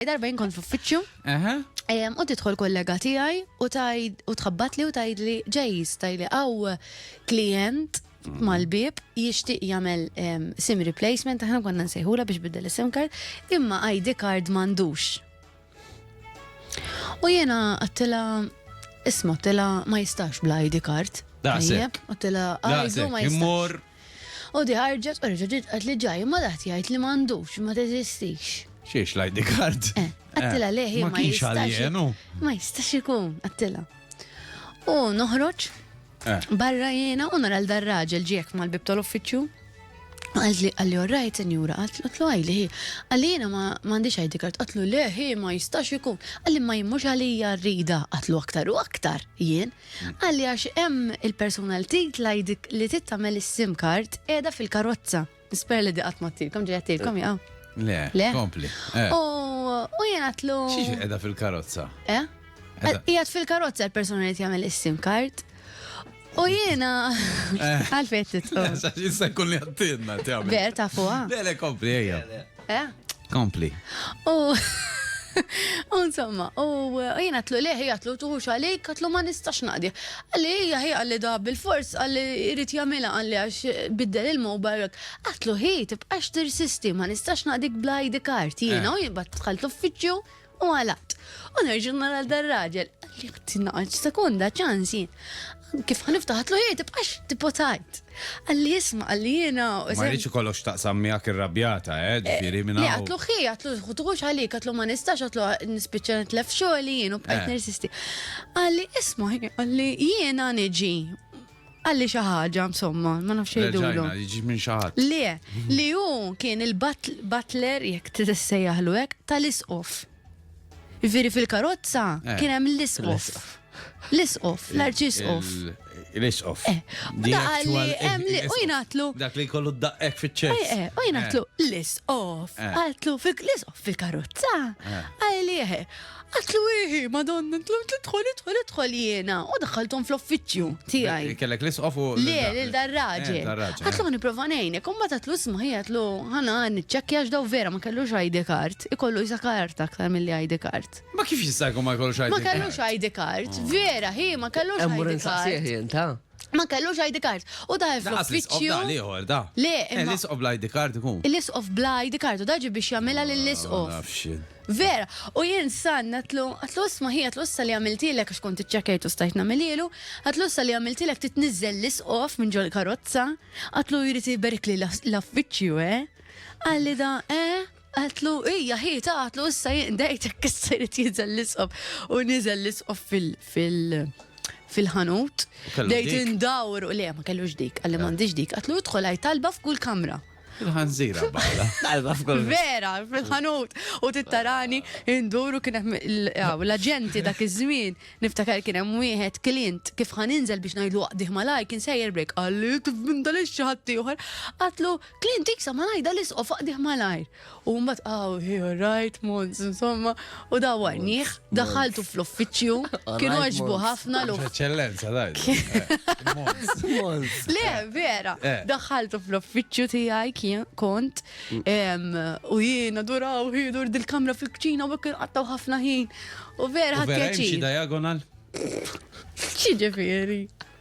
Darba jien kont f'uffiċċju. Eħe. U tidħol kollega tiegħi u tajd u tħabbatli u tgħidli ġejs tajli għaw klient mhm. mal-bib jixtieq jagħmel sim replacement aħna konna nsejħula biex biddel is-sim card imma ID card m'għandux. U jiena għattila isma' għattila ma jistax bla ID card. Daħseb. Għattila għajdu ma jistax. U di ħarġet u reġgħet tidqat li ġaj imma daħt jgħid li m'għandux, ma teżistix. Xiex l-ID card? Eh, għattilha leh hi ma jistax. Ma jistax ikun, għattilha. U noħroġ eh. barra jiena u nara l-dar raġel ġiek mal-bib tal-uffiċċju. Għalli għalli orrajt senjura, għatlu għajli hi, għalli jena ma għandix għajdi kart, għatlu le hi ma jistax ikun, għalli ma jimmux għalli jarrida, għatlu aktar u aktar jien, Qal li għax hemm il-persuna li titla' li trid tagħmel is-sim card qiegħda fil-karozza. Nispera li di qatt ma tilkom ġejja tilkom jaw. Le, kompli. Eh. U jien għatlu. Xiex qiegħda fil-karozza? Eh? Qiegħed fil-karozza l-persuna li tagħmel is-sim card. U jiena eh. għalfejn titqum. Issa jkun li għattinna tagħmel. Ver ta' fuqha. Le, le, kompli ejja. Eh? Kompli. U Insomma, u jien għatlu liħi għatlu tuħux għalik, għatlu ma nistax naqdi. Għalli hija hi għalli da bil-fors għalli irrit jamila għalli għax biddel il-mobile. Għatlu hi tibqax tirsisti ma nistax naqdik bla ID card. Jiena eh. u jibbat tħalt uffiċju U għalaqt. U nerġa' nara dar-raġel. Qalli ħti naqgħodx sekonda ċans jien. Kif ħaniftaħat lu jgħid tibqax tipotajt. Qalli isma' qalli jiena. Ma rridx ikollox x'taqsam miegħek irrabjata, eh, ġifieri minn hawn. Għatlu ħi, għatlu ħutux għalik, għatlu ma nistax, għatlu nispiċċa nitlef xogħli jien u bqajt nirsisti. Qalli isma' qalli jiena niġi. Għalli xi ħaġa, insomma, ma nafx jgħidulu. Reġajna, jiġi minn xi ħadd. Le, li hu kien il-butler, jekk tissejjaħlu hekk, tal-isqof. Jiġifieri fil-karozza Eh. kien hemm l-isqof. L-isqof, l-arċisqof. L-isqof. Eh, The da għalli actual hemm li- u isqof. jingħatlu. Dak li jkollu d-daqqek Eh, fiċ-ċest. eh, u jingħatlu l-isqof. Eh. Għatlu fil- l-isqof fil-karozza. Eh. Għalli, eh, Għatlu iħi, madonna, idħol, idħol, idħol jena. U daħħaltom fl-offiċju tijaj. Kellek l-isqof u. Le, l-darraġi. Għatlu għani provanejnek, un bat għatlu smaħi għatlu għana għani ċekja ġdaw vera ma kellux ID card, ikollu jisa karta aktar mill-li ID card. Ma kif jistajku ma kellux ID card? Ma kellux ID card, vera, hi, ma kellux ID card. Ma kellux ID card. U da Da, fl-isqof uffiċċju. da, l-ieħor, da. Le, Eh, imma- l-isqof bl-ID card ikun. L-isqof bla ID card u da ġi biex jagħmilha Ma lill-isqof. nafx jien. Vera, u jien san għatlu, għatlu isma hi, għatlu issa li għamiltilek, għax kont iċċekajt u stajt namililu, għatlu issa li għamiltilek titnizzel l-isqof minn ġol karozza, għatlu jrid jiberik li l-affiċju, eh? Għalli da, eh? Għatlu, ija, hi, ta' għatlu, issa jinqdejt, issa jrid jizel l-isqof. U nizel l-isqof fil-ħanut. Dejt indawr, u le, ma kellu dik, għalli mandi dik, għatlu idħol għaj talba f'kull kamra. Il-ħanżira bħala. Talba f'kull. Vera, fil-ħanut. U tittarani induru kien hemm l-aġenti dak iż-żmien. Niftakar kien hemm wieħed klient kif ħaninżel biex ngħidlu qdih malaj kien sejjer brek. Qalli kif bindalix xi ħadd ieħor. Qatlu Clint Eastod ma ngħidha l-isqof faqdih malajr. U mbagħad aw hi rajt Mons, insomma, u dawarnieh, daħaltu fl-uffiċċju, kienu għaġbu ħafna l Eċċellenza, daj. Le, vera, eh. daħaltu fl-uffiċċju tiegħi kien kont mm. u jiena duraw ħidur dil-kamra fil-kċina u kien qattaw ħafna ħin. U vera ħadd pjaċir. diagonal? Ċiġifieri.